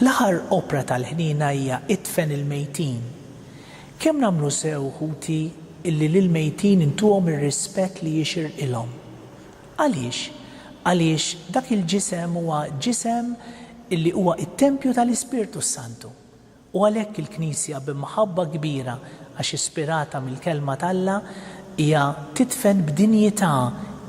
L-aħħar opra tal-ħniena hija Idfen il-mejtin. Kemm nagħmlu sew, ħuti, illi lill-mejtin intuhom ir-rispett li jixirqilhom! Għaliex? Għaliex dak il-ġisem huwa ġisem li huwa t-tempju tal-Ispirtu s-Santu. U għalhekk il-Knisja bi mħabba kbira, għax ispirata mill-Kelma t'Alla, hija tidfen b'dinjità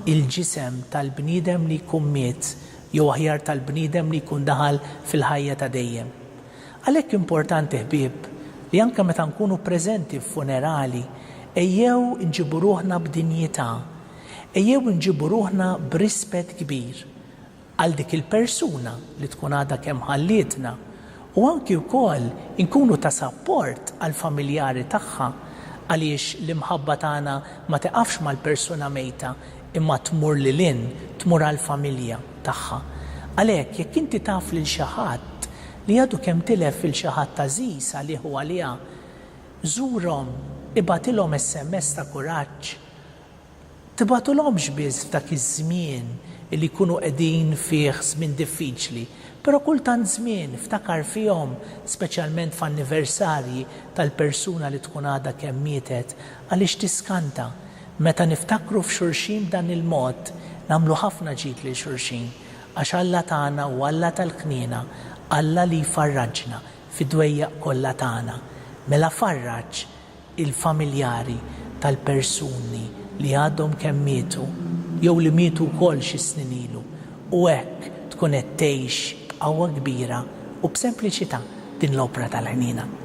l-ġisem tal-bniedem li jkun miet, jew aħjar tal-bniedem li jkun daħal fil-ħajja ta' dejjem. Għalhekk importanti, ħbieb, li anke meta nkunu preżenti f'funerali, ejjew inġibu ruħna b'dinjità, Ejjew inġibu ruħna b'rispett kbir għal dik il-persuna li tkun għadha kemm ħallietna u anki wkoll inkunu ta' sapport għall-familjari tagħha għaliex l-imħabba tagħna ma tiqafx mal-persuna mejta imma tmur lil hinn, tmur għall-familja tagħha. Għalhekk, jekk inti taf lil xi ħadd li għadu kemm tilef lil xi ħadd għażiż għalih u għaliha, żurhom, ibgħatilhom SMS ta' kuraġġ, tibagħtulhomx biss f'dak iż-żmien li jkunu qegħdin fih żmien diffiċli, però kull tant żmien ftakar fihom, speċjalment f'anniversarji tal-persuna li tkun għadha kemm mietet, għaliex tiskanta. Meta niftakru f'xulxin b'dan il-mod, nagħmlu ħafna ġid lil xulxin, għax Alla tagħna hu Alla tal-kniena, Alla li jfarraġna fid-dwejjaq kollha tagħna. Mela farraġ! il-familjari tal-persuni li għadhom kemm mietu jew li mietu wkoll xi snin ilu u hekk tkun qed tgħix b'qawwa kbira u b'sempliċità din l-opra tal-ħniena.